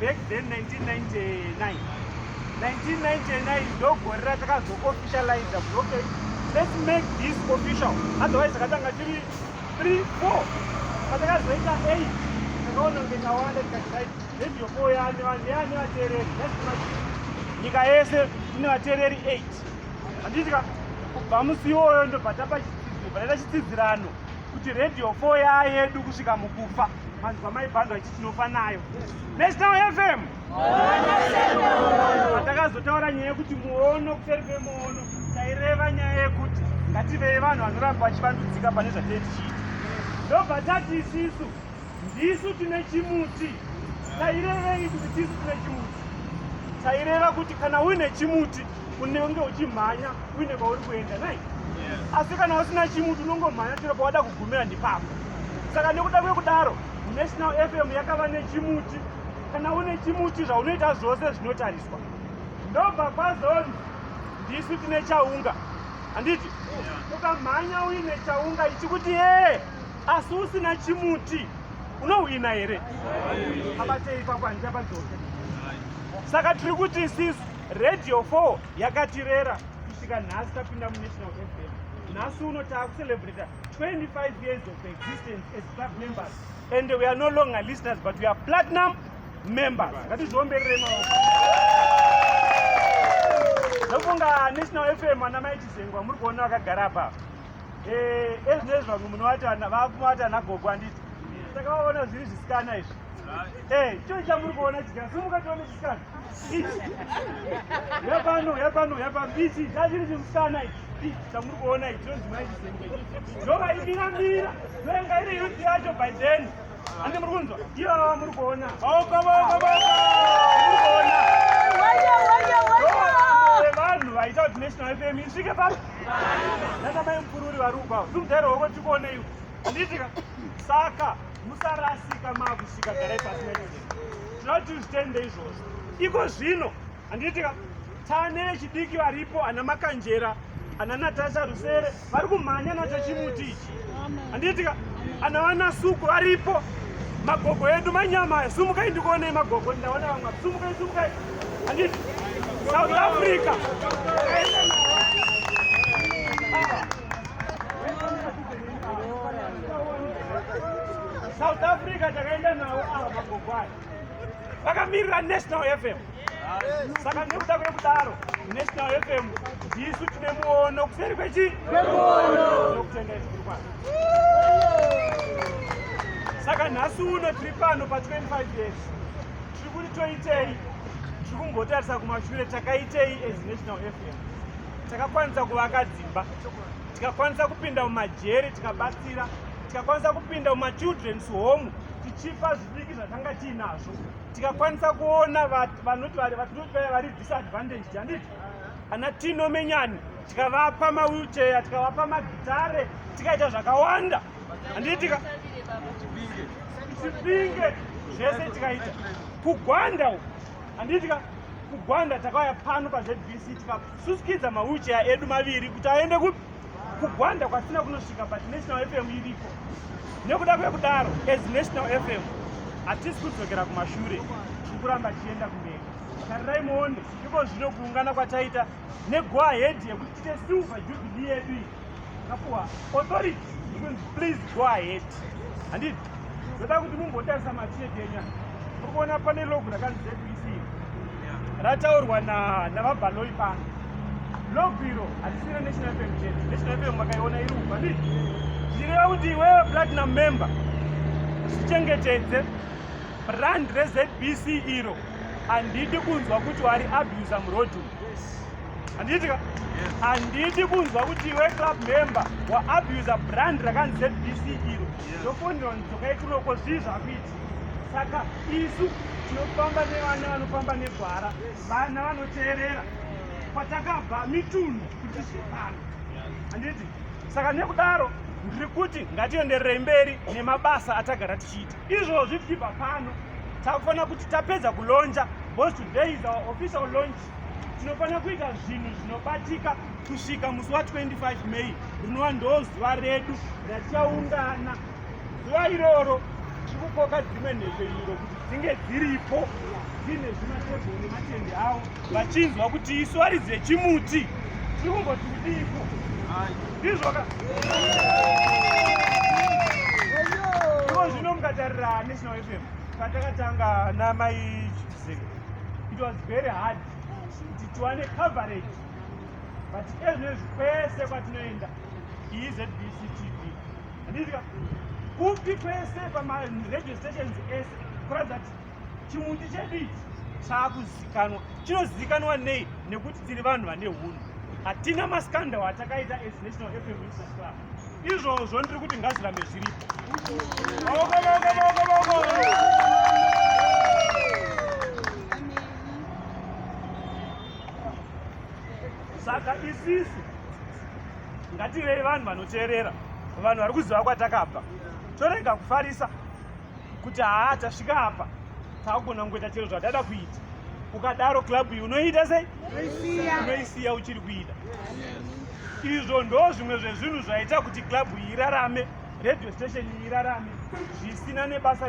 back then 1999 1999 ndogore ratakanzo officialize kuti okay let's make this official otherwise akatanga tiri 3 4 patakazoita 8 takaona kunge tawanda tikati radio four yani vanhu yani vateereri nyika yese ine vateereri 8 handitika kubva musi iwoyo ndobva tapa chitsidziro pataita chitsidzirano kuti radio four yaa yedu kusvika mukufa manzwa maibhandwa tinofa nayo national fm atakazotaura nyaya yekuti muono kuseri kwemuono taireva nyaya yekuti ngativei vanhu vanoramba vachivandudzika pane zvatei tichiita ndobva tati isisu ndisu tine chimuti tairevei kuti tisu tine chimuti taireva kuti kana uine chimuti unenge uchimhanya uine kwauri kuenda nai asi kana usina chimuti unongomhanya chero pawada kugumira ndipapa saka nekuda kwekudaro National FM yakava nechimuti kana une chimuti zvaunoita zvose zvinotariswa ndobva kwazonzi ndisu tine chaunga handiti ukamhanya uine chaunga ichi kuti ee asi usina chimuti unohwina here abatei pakwanisa padzose saka tiri kuti isisu radio 4 yakatirera kusvika nhasi tapinda munational fm nhasi uno taakucelebrata 25 years of existence as club members and we are no longer listeners but we are platinum members ngatizviomberere maoko ndofunga national fm ana mai chizengwa muri kuona vakagara pa eh, ezvinezvi vamwe munovakumavati ana gogo anditi saka vaona zviri zvisikana izvi eh, choo chamuri kuona chisikana simuka tione chisikana yapano yapano yapano ichi chachiri chimusana ichi chamuri kuona ichi ndova imiramira ndoyanga iri yuti yacho by then andi muri kunzwa iyo ava muri kuona vanhu vaita kuti national fm isvike pano nana mai mupururi vari kubva ndimudare wako tikuoneiwo nditika saka musarasika makusvika garai pasina zvatizvitende izvozvo iko zvino handiitika tane chidiki varipo ana makanjera ana natasha rusere vari kumhanya nacho chimuti ichi handiitika ana vanasuku varipo magogo edu manyama aya sumukai ndikuonei magogo ndaona vamwa sumukai sumukai handiti south africa South Africa takaenda nawo ava magogo aya vakamirira National FM saka nekuda kwekudaro National FM ndisu tine muono kuseri kwechi nokutenda izikuru kwano saka nhasi uno tiri pano pa25 years tiri kuti toitei tiri kumbotarisa kumashure takaitei as National FM takakwanisa kuvaka dzimba tikakwanisa kupinda mumajeri tikabatsira tikakwanisa kupinda mumachildrens home tichipa zvidiki zvatanga tiinazvo tikakwanisa kuona vanoti vaya vari disadvantaged handiti ana tino menyani tikavapa mawilchair tikavapa magitare tikaita zvakawanda handiitika chipinge zvese tikaita kugwanda handiitika kugwanda takauya pano pazvebc tika susikidza mawheelchair edu maviri kuti aende kupi kugwanda kwatisina kunosvika but national fm iriko nekuda kwekudaro as national fm hatisi kudzokera kumashure tiri kuramba tichienda kumberi tarirai muone iko zvino kuungana kwataita negoa head yekuti tite silver jubilee yedu iyi Kapuwa, authority, please go ahead. Handiti, ndoda kuti mumbotarisa machete enya. Muri kuona pane logo rakanzi ZBC. Rataurwa na navaBaloi pano. Logo iro hatisina National FM chete. National FM makaiona iri uku, handiti? Zvireva kuti iwewe platinum member zvichengetedze brand reZBC iro handidi kunzwa kuti wari abusa muroad umu. handiti ka handiti kunzwa kuti iwe club member waabuser brand rakanzi zbc iro ndofonera ndidzokai kunoko zvii zvakuiti saka isu tinofamba nevana vanofamba negwara vana vanoteerera kwatakabva mitunhu kuti zvipano handiti saka nekudaro ndiri kuti ngatiendererei mberi nemabasa atagara tichiita izvozvi tichibva pano takufanira kuti tapedza kulonja bcause today is our official launch tinofanira kuita zvinhu zvinobatika kusvika musi wa 25 may rinova ndo zuva redu ratichaungana zuva iroro tiri kukoka dzimwe nhepfenyuro kuti dzinge dziripo dziine zvimatebho nematende avo vachinzwa kuti isu ari dzechimuti tiri kungoti kudiiko ndizvoka iko zvino mukatarira national fm patakatanga namai It was very hard kuti tiwane coverage but ezvinezvi kwese kwatinoenda iyi zbc tv andizika kupi kwese pamaradio stations ese kuratidza kuti chimuti chedu ichi chaakuzikanwa chinozikanwa nei nekuti tiri vanhu vane hunhu hatina maskandal atakaita as national fm club izvozvo ndiri kuti ngazirambe zviripo saka isisu ngatirei vanhu vanoteerera vanhu vari kuziva kwatakabva torega kufarisa kuti haa tasvika apa takugona kungoita chero zvatada kuita ukadaro club iyi unoiita sei unoisiya uchiri kuita Izvo ndo zvimwe zvezvinhu zvaita kuti club iyi irarame, radio station iyi irarame zvisina nebasa